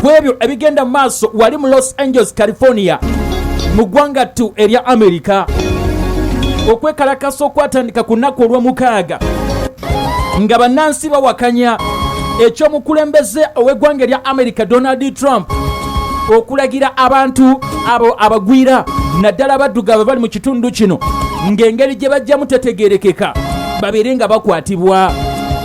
ku ebyo ebigenda mu maaso wali mu los angeles california mu ggwanga ttu erya amerika okwekalakasa okwatandika ku nnaku olw'omukaaga nga bannansi bawakanya ekyomukulembeze ow'eggwanga erya amerika donald trump okulagira abantu abo abagwira naddala abaddugavu bali mu kitundu kino ng'engeri gye bajjamu tetegerekeka babeere nga bakwatibwa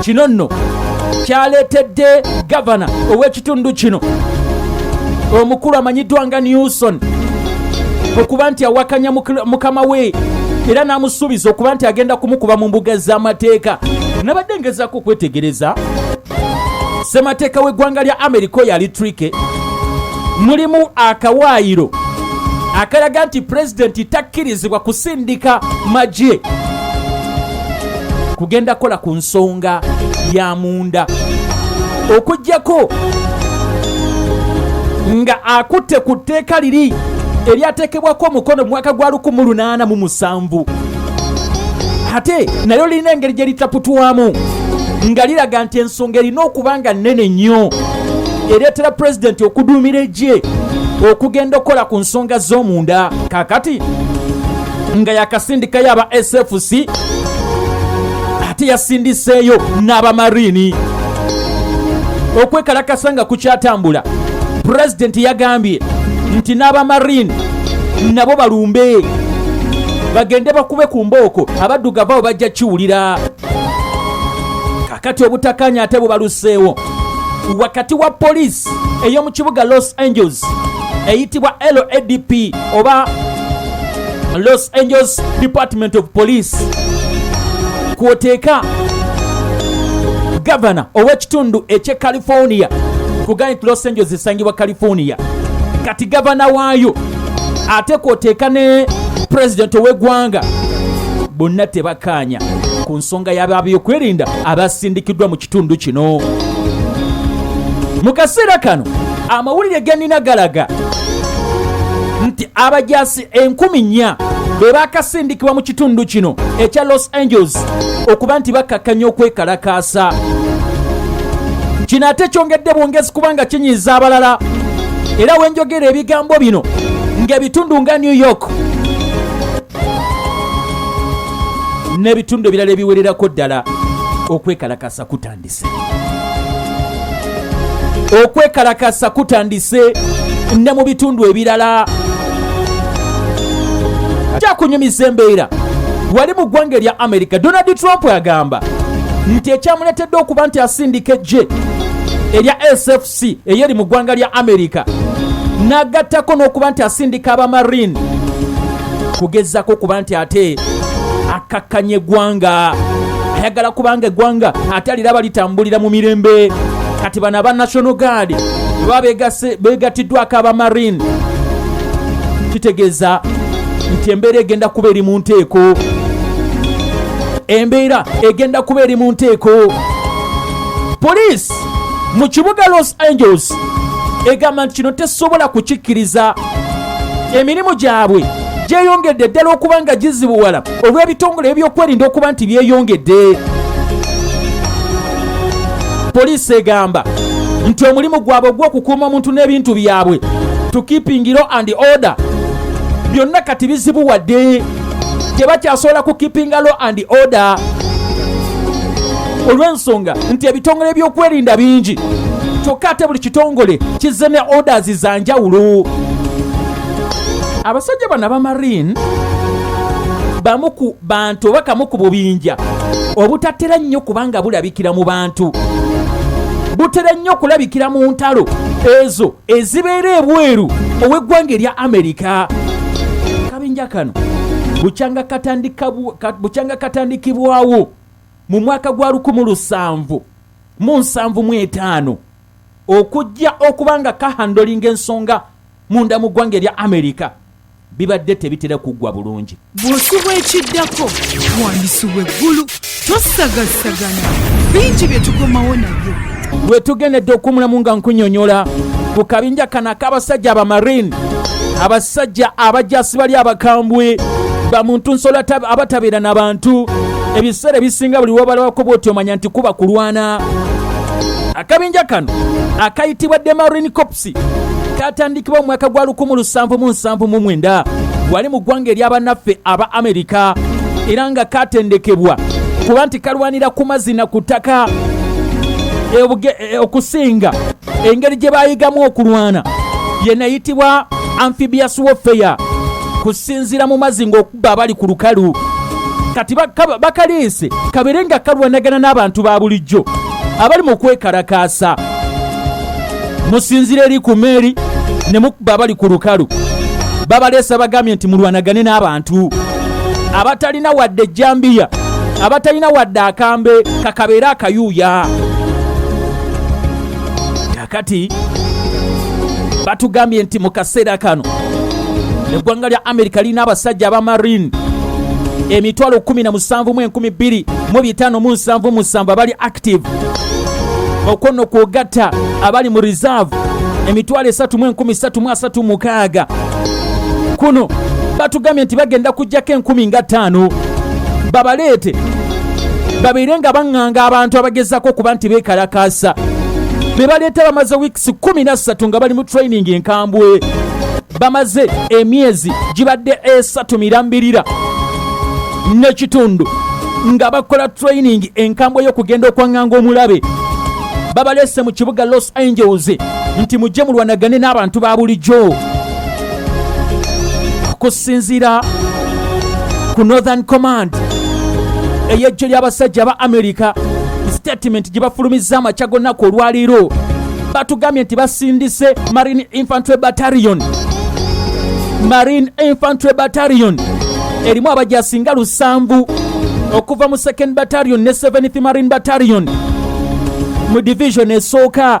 kino nno kyaleetedde gavana ow'ekitundu kino omukulu amanyiddwa nga newson okuba nti awakanya mukama we era n'amusuubiza okuba nti agenda kumukuba mu mbuga z'amateeka nabadde ngezaako okwetegereza ssemateeka w'eggwanga lya amerika oyo ali trike mulimu akawaayiro akalaga nti pulezidenti takkirizibwa kusindika magye kugenda kola ku nsonga ya munda okugyako nga akutte ku tteeka liri eryateekebwako omukono mu mwaka gwa 1877 ate nayo lirina engeri gye litaputwamu nga liraga nti ensonga erina okuba nga nnene nnyo ereetera pulezidenti okuduumira egye okugenda okukola ku nsonga z'omunda kakati nga yakasindikayo aba sfc ate yasindiseeyo n'abamariini okwekalakasa nga kukyatambula pulezidenti yagambye nti n'abamariini nabo balumbe bagende bakube ku mbooko abaddugavu abo bajja kiwulira kakati obutakanya ate bubaluseewo wakati wa poliisi ey'omu kibuga los angeles eyitibwa ladp oba los angeles department of police kwoteeka gavana ow'ekitundu eky'e california kugani los angeles esangibwa california kati gavana waayo ate kwoteeka ne pulezidenti ow'eggwanga bonna tebakaanya ku nsonga y'ababyokwerinda abasindikiddwa mu kitundu kino mu kaseera kano amawulire ganina galaga nti abajaasi enkumi nnya be baakasindikibwa mu kitundu kino ekya los angeles okuba nti bakkakkanya okwekalakaasa kino ate kyongedde bwongezi kubanga kinyiiza abalala era wenjogera ebigambo bino ng'ebitundu nga new york n'ebitundu ebirala ebiwererako ddala okwekalakasa kutandise okwekalakasa kutandise ne mu bitundu ebirala kyakunyumiza embeera wali mu ggwanga erya amerika donald trump agamba nti ekyamuletedde okuba nti asindika ejje erya sfc si eyeri mu ggwanga lya amerika n'agattako n'okuba nti asindika abamarine kugezako kuba nti ate akakkanya eggwanga ayagala kubanga eggwanga ate aliraba litambulira mu mirembe kati bano aba national guard baba begatiddwako abamarine kitegeeza nti embeera egenda kuba eri mu nteeko embeera egenda kuba eri mu nteeko poliisi mu kibuga los angeles egamba nti kino tesobola kukikkiriza emirimu gyabwe gyeyongedde ddala okuba nga gizibuwala olw'ebitongole ebyokwerinda okuba nti byeyongedde poliisi egamba nti omulimu gwabwe ogw'okukuuma omuntu n'ebintu byabwe to keeping law and order byonna kati bizibuwadde tebakyasobola ku keepinga law and order olw'ensonga nti ebitongole by'okwerinda bingi kyokka ate buli kitongole kizze ne orders za njawulo abasajja bano abamarine bamu ku bantu oba kamu ku bubinja obutatera nnyo kubanga bulabikira mu bantu butera nnyo okulabikira mu ntalo ezo ezibeera ebweru ow'eggwanga erya amerika akabinja kano bukyanga katandikibwawo mu mwaka gwa 17 mu nsanvu mu etaano okujja okuba nga kahandolinga ensonga munda mu ggwanga erya amerika bibadde tebitera kuggwa bulungi. Bw'osubwa ekiddako wandisubwa eggulu tosagassagana bingi bye tukomawo nabyo. Lwe tugendedde okumulamu nga nkunyonyola ku kabinja kano ak'abasajja abamarine abasajja abajasi bali abakambwe bamuntu nsolo abatabeera na bantu ebiseera ebisinga buli wabalabako bwoti omanya nti kuba kulwana akabinja kano akayitibwa demarine Katusi katandikibwa mu mwaka gwa 1779 wali mu ggwanga ery'abannaffe aba Amerika era nga katendekebwa kuba nti kalwanira ku mazzi na ku ttaka e, okusinga engeri gye bayigamu okulwana yenayitibwa amphibious warfare kusinziira mu mazzi okubba abali ku lukalu kati bakaleese kabere nga kalwanagana n'abantu ba bulijjo abali mu kwekalakaasa musinzira eri ku meeri ne mukuba abali ku lukalu babaleesa bagambye nti mulwanagane n'abantu abatalina wadde ejjambiya abatalina wadde akambe kakabeera akayuuya kati batugambye nti mu kaseera kano eggwanga lya amerika lirina abasajja aba marine emitwalo 17 mu enkumi 2 mu bitaano mu nsanvu musanvu abali active okwo no kwogatta abali mu reserve emitwalo 3 mu enkumi 3 mu 3 mukaaga kuno batugambye nti bagenda kujjako enkumi nga ttaano babaleete babeere nga baŋŋanga abantu abagezaako okuba nti beekalakaasa be baleeta bamaze wiikisi kumi na ssatu nga bali mu training enkambwe bamaze emyezi gibadde esatu mirambirira n'ekitundu nga bakola training enkambwe y'okugenda okwaŋŋanga omulabe babaleese mu kibuga los angeles nti mujje mulwanagane n'abantu ba bulijjo okusinziira ku northern command eyejjo ly'abasajja aba america statement gye bafulumizza amakya gonnaku olwaleero batugambye nti basindise marine infantry battalion marine infantry battalion erimu abajasinga lusanvu okuva mu second battalion ne 7th marine battalion mu division esooka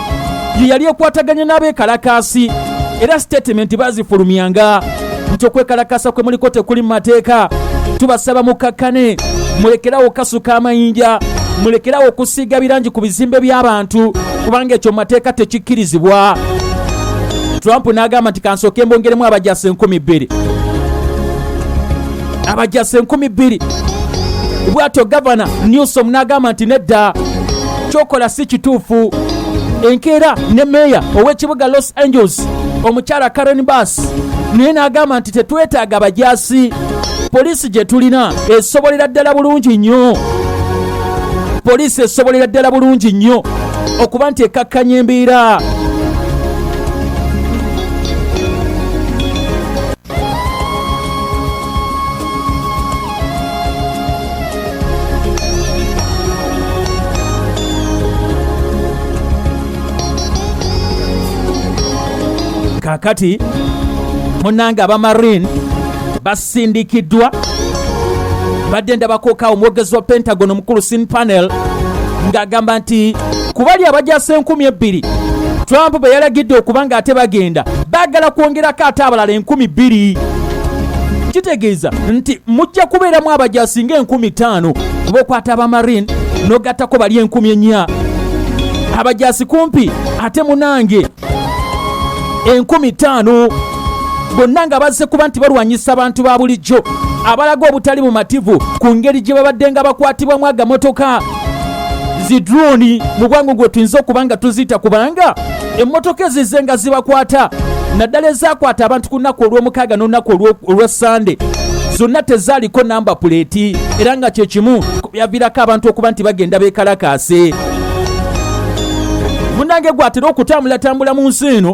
ye yali ekwataganya n'abeekalakaasi era sitetimenti bazifulumyanga nti okwekalakaasa kwe muliko tekuli mu mateeka tubasaba mukakkane mulekerawo okukasuka amayinja mulekerawo okusiiga birangi ku bizimbe by'abantu kubanga ekyo mu mateeka tekikkirizibwa trump n'agamba nti kansooke mbongeremu abajasa enkumi bbiri abajasa enkumi bbiri bwatyo gavana newsom n'agamba nti nedda kyokola si kituufu enkeera ne meeya ow'ekibuga los angeles omukyala karen bas naye n'agamba nti tetwetaaga bajaasi poliisi gye tulina esobolera ddala bulungi nnyo poliisi esobolera ddala bulungi nnyo okuba nti ekakkanya embeera kakati munange abamarine basindikiddwa badde ndabakooka omwogezi wa pentagon omukulu sin panel ng'agamba nti ku bali abajasa enkumi ebbiri trump be yalagidde okuba nga ate bagenda baagala kwongerako ate abalala enkumi bbiri kitegeeza nti mujja kubeeramu abajasi nga enkumi ttaano kuba okwata abamarine n'ogattako bali enkumi ennya abajasi kumpi ate munange enkumi ttaano bonna nga bazze kuba nti balwanyisa abantu ba bulijjo abalaga obutali bumativu ku ngeri gye babadde nga bakwatibwamu agamotoka zi drone mu bwangu gwe tuyinza okuba nga tuziyita kubanga emmotoka ezize nga zibakwata naddala ezakwata abantu ku nnaku olw'omukaaga n'olunaku olwa sande zonna tezaaliko namba puleeti era nga kyekimu yavirako abantu okuba nti bagenda bekalakaase munange gwatera okutambulatambula mu nsi eno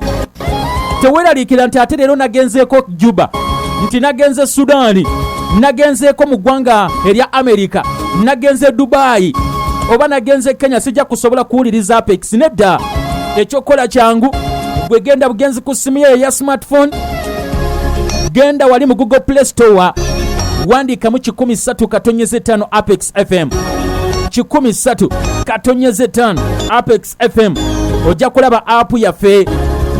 teweraliikira nti ate leero nagenzeeko juba nti nagenze sudaani nagenzeeko mu ggwanga erya amerika nagenze dubaayi oba nagenze kenya sijja kusobola kuwuliriza apex nedda ekyokukola kyangu gwe genda bugenzi ku simu yeyo eya smartphone genda wali mu google play store wandiikamu 13 katonyeza 5 apex fm 13 katonyeza 5 apex fm ojja kulaba apu yaffe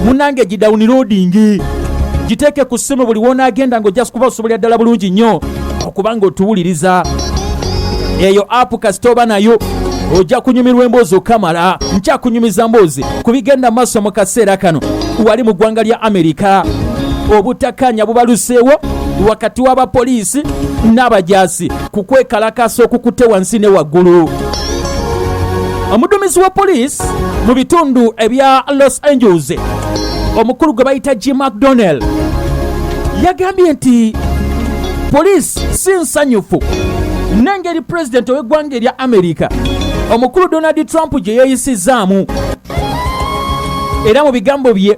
munange gidawuniloadingi giteeke ku ssimu buli wonaagenda nga ojja kuba osobolera ddala bulungi nnyo okubanga otuwuliriza eyo apu kasita oba nayo ojja kunyumirwa emboozi okamala nkyakunyumiza mboozi ku bigenda maaso mu kaseera kano wali mu ggwanga lya amerika obutakanya bubaluseewo wakati w'abapoliisi n'abajaasi ku kwekalakaasa okukutte wansi ne waggulu omuduumizi wa poliisi mu bitundu ebya los angeles omukulu gwe bayita g mcdonald yagambye nti poliisi si nsanyufu n'engeri pulezidenti ow'eggwanga erya amerika omukulu donald trump gye yeeyisizzaamu era mu bigambo bye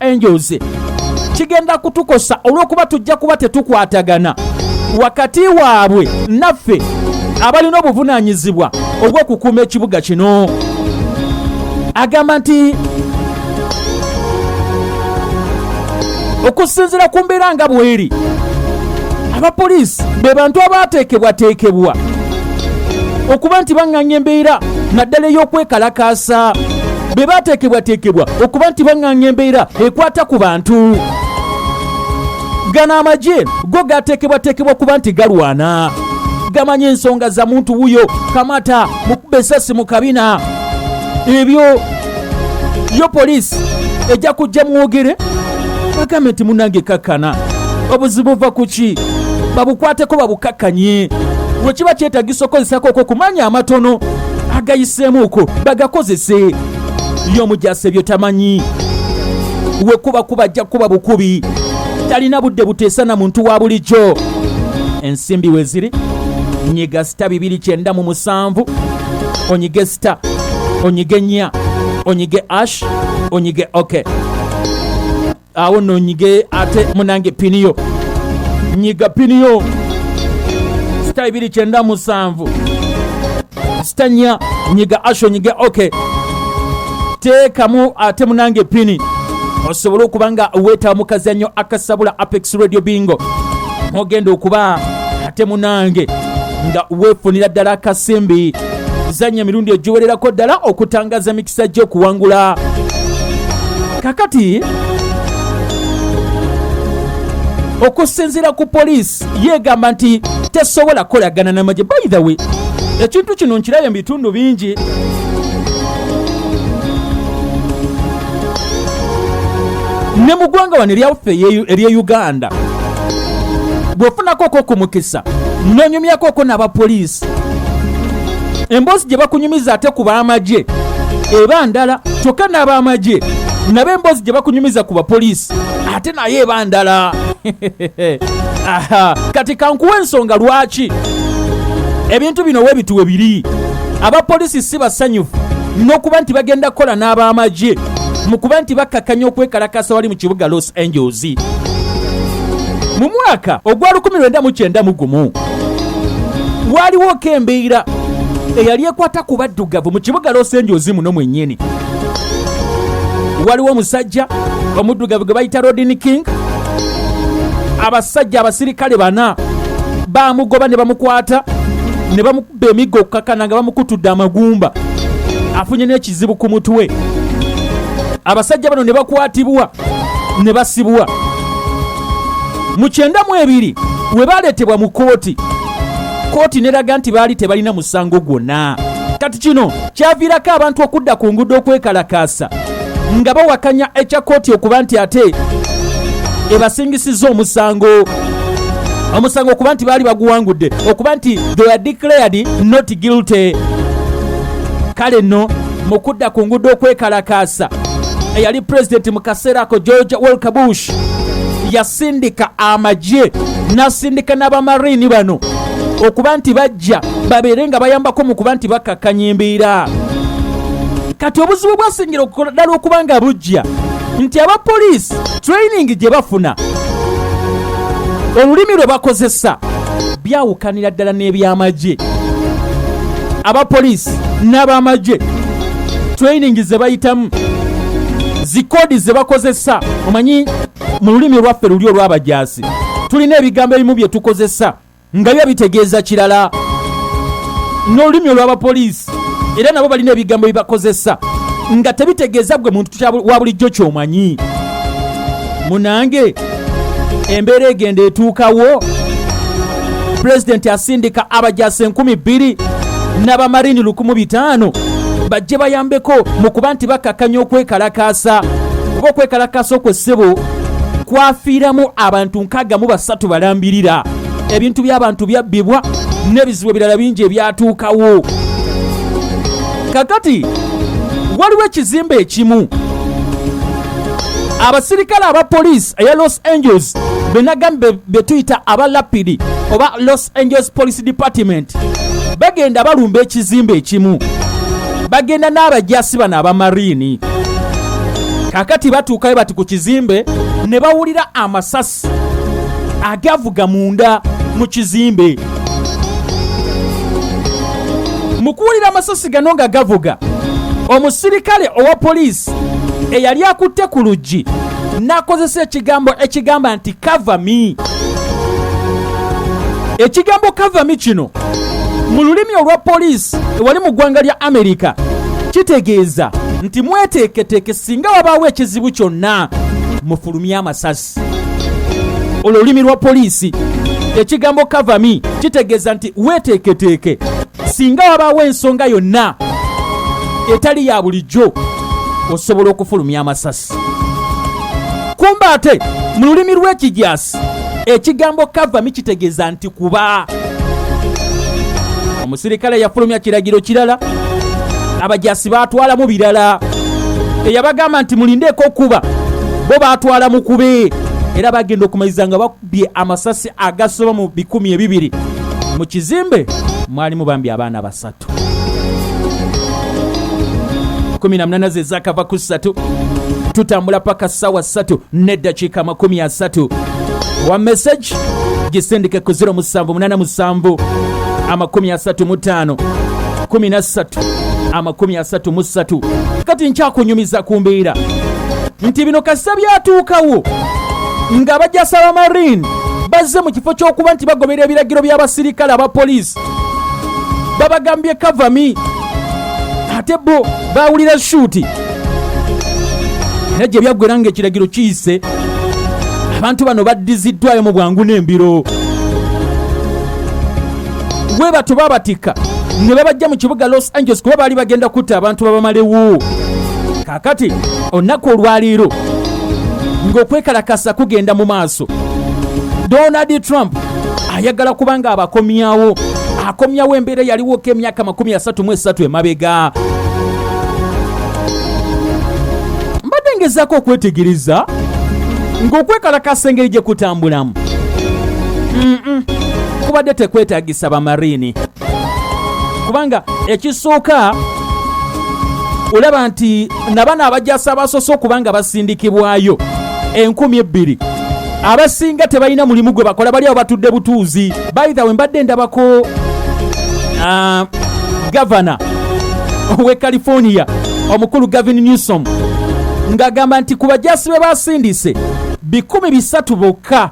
angels kigenda kutukosa olw'okuba tujja kuba tetukwatagana wakati waabwe naffe abalina obuvunaanyizibwa obw'okukuuma ekibuga kino agamba nti okusinzira ku mbeera nga bweri abapoliisi be bantu abaateekebwateekebwa okuba nti baŋŋanya embeera naddala ey'okwekalakaasa be baateekebwateekebwa okuba nti baŋŋanga embeera ekwata ku bantu gano amagye go gateekebwateekebwa kuba nti galwana gamanyi ensonga za muntu wuyo kamata mukuba esasi mu kabina ebyo yo poliisi ejja kujja mwogere bagambe nti munange kakkana obuzibu buva ku ki babukwateko babukakkanye wekiba kyetagisa okozesako okwo kumanya amatono agayiseemuuko bagakozese ly'omujase byo tamanyi wekuba kuba ajja kuba bukubi talina budde buteesa na muntu wa bulijjo ensimbi we ziri nyiga sita bibiri kyenda mu musanvu onyige sita onyige nya onyige ash onyige oke okay. awo no nyige ate munange piniyo nyiga piniyo sita ibiri kyenda musanvu sita nya nyiga asho nyige ok teekamu ate munange pini osobole okuba nga weetaba mu kazannyo akasabula apex radio bingo ogenda okuba ate munange nga weefunira ddala akasimbi zanya emirundi egiwererako ddala okutangaza emikisa gy'okuwangula kakati okusinziira ku poliisi yeegamba nti tesobola kukolagana n'amagye by the way ekintu kino nkirabye mu bitundu bingi ne mu ggwanga wano eryaffe ery'e uganda bw'ofunako ko ku mukisa n'onyumyako ko n'abapoliisi emboozi gye bakunyumiza ate ku b'amagye eba ndala kyokka n'ab'amagye nabo emboozi gye bakunyumiza ku bapoliisi ate naye eba ndala kati kankuwa ensonga lwaki ebintu bino webituwe biri abapoliisi si basanyufu n'okuba nti bagenda kukola n'ab'amagye mu kuba nti bakkakkanya okwekalakasa wali mu kibuga los angeles mu mwaka ogwa 1991 gumu waaliwo ko embeera eyali ekwata ku baddugavu mu kibuga losenjozi muno mwennyini waliwo omusajja omuddugavu gwe bayita rodin king abasajja abasirikale bana bamugoba ne bamukwata ne bamukuba emiggo okukakana nga bamukutudde amagumba afunye n'ekizibu ku mutwe abasajja bano ne bakwatibwa ne basibwa mu kyenda mu ebiri we baaleetebwa mu kkooti kkooti neraga nti baali tebalina musango gwonna kati kino kyaviirako abantu okudda ku nguudo okwekalakaasa nga bawakanya ekya kkooti okuba nti ate ebasingisizza omusango omusango okuba nti baali baguwangudde okuba nti they are declared not guilty kale nno mu kudda ku nguudo okwekalakaasa eyali pulezidenti mu kaseera ako george walker bush yasindika amagye n'asindika n'abamariini bano okuba nti bajja babeere nga bayambako mu kuba nti bakakkanya embeera kati obuzibu bwasingira okukola ddala okuba nga bujja nti aba poliisi training gye bafuna olulimi lwe bakozesa byawukanira ddala n'ebyamagye abapoliisi n'abamagye training ze bayitamu zikoodi ze bakozesa omanyi mu lulimi lwaffe luli olw'abajaasi tulina ebigambo ebimu bye tukozesa nga biba bitegeeza kirala n'olulimi olw'abapoliisi era nabo balina ebigambo bibakozesa nga tebitegeeza gwe muntu wa bulijjo kyomanyi munange embeera egenda etuukawo pulezidenti asindika abajasi enkumi bbiri n'abamarini lukumu bitaano bajje bayambeko mu kuba nti bakakanya okwekalakaasa oba okwekalakaasa okwo ssebo kwafiiramu abantu nkaaga mu basatu balambirira ebintu by'abantu byabbibwa n'ebizibu ebirala bingi ebyatuukawo kakati waliwo ekizimbe ekimu abasirikale aba poliisi eya los angels benagamba betuyita aba lapidi oba los angels police department bagenda balumba ekizimbe ekimu bagenda n'abajasi bano abamariini kakati batuukayo bati ku kizimbe ne bawulira amasasi agavuga munda mu kizimbe mu kuwulira amasasi gano nga gavuga omusirikale owa poliisi eyali akutte ku luggi n'akozesa ekigambo ekigamba nti kavami ekigambo kavami kino mu lulimi olwa poliisi ewali mu ggwanga lya amerika kitegeeza nti mweteeketeeke singa wabaawo ekizibu kyonna fulumya amasasi olulimi lwa poliisi ekigambo kavami kitegeeza nti weeteeketeeke singa wabaawo ensonga yonna etali ya bulijjo osobola okufulumya amasasi kumba ate mu lulimi lw'ekijaasi ekigambo kavami kitegeeza nti kuba omusirikale yafulumya kiragiro kirala abajasi batwalamu birala eyabagamba nti mulindeeko okuba bo batwala mukube era bagenda okumaliza nga bakubye amasasi agasoba mu bikumi ebibiri mu kizimbe mwalimu bambi abaana basatu kumi na munana ze zakava ku ssatu tutambula paka sawa ssatu neddakiika amakumi asatu wa message gisindike ku 0 musanvu munana musanvu amakumi asatu mu ttaano kumi na ssatu amakumi asatu mu ssatu kati nkyakunyumiza ku mbeera nti bino kasita byatuukawo nga bajasaba marine bazze mu kifo ky'okuba nti bagoberera ebiragiro by'abasirikale aba poliisi babagambye kavami ate bo bawulira shuuti era gye byaggwera nga ekiragiro kiyise abantu bano baddiziddwayo mu bwangu n'embiro we batu babatikka ne babajja mu kibuga los angeles kuba baali bagenda kutta abantu babamalewo kakati olunaku olwaleero ng'okwekalakasa kugenda mu maaso donald trump ayagala kubanga abakomyawo akomyawo embeera yaliwoko emyaka 33 emabega mbadde ngezaako okwetegereza ng'okwekalakasa engeri gye kutambulamu kubadde tekwetagisa bamariini kubanga ekisooka olaba nti nabano abajasa abasoose okuba nga basindikibwayo enkumi ebbiri abasinga tebalina mulimu gwe bakola bali awo batudde butuuzi baitha we mbadde ndabako ah, gavana owe california omukulu gavin newsom ng'agamba nti ku bajasi be basindise bikumi bisatu bokka bokka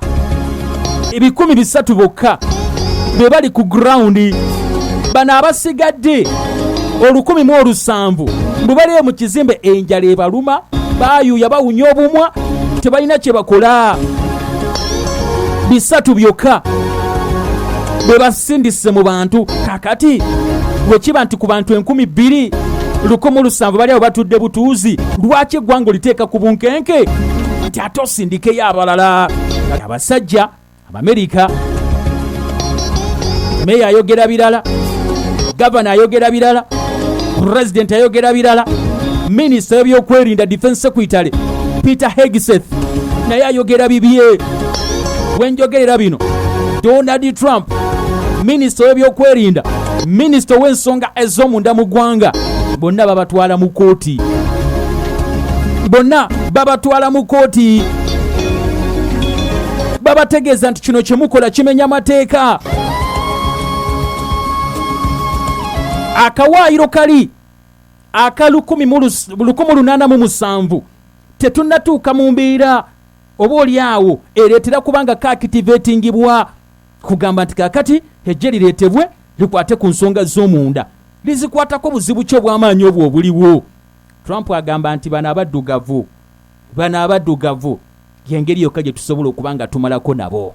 ebikumi bisatu bokka be bali ku gurawundi bano abasigadde olukumi mu olusanvu bwe baliyo mu kizimbe enjala ebaluma bayuuya bawunya obumwa tebalina kye bakola bisatu byokka bwe basindise mu bantu kakati bwe kiba nti ku bantu enkumi bbiri lukumu lusanvu bali abo batudde butuuzi lwaki eggwanga oliteeka ku bunkenke ate osindikeyo abalala abasajja abamerika meeya ayogera birala gavana ayogera birala pulezidenti ayogera birala minisita w'ebyokwerinda defense secretary peter hegseth naye ayogera bibye wenjogerera bino donald trump minisita w'ebyokwerinda minisita ow'ensonga ez'omunda mu ggwanga bonna babatwala mu kooti bonna babatwala mu kkooti babategeeza nti kino kye mukola kimenya amateeka akawaayiro kali aka 1807 tetunnatuuka mu mbeera oba oli awo ereetera kubanga kakitivetingibwa kugamba nti kakati ejje lireetebwe likwate ku nsonga z'omunda lizikwatako buzibu ki obw'amaanyi obwo obuliwo Trump agamba nti bano abaddugavu bano abaddugavu y'engeri yokka gye tusobola okuba nga tumalako nabo.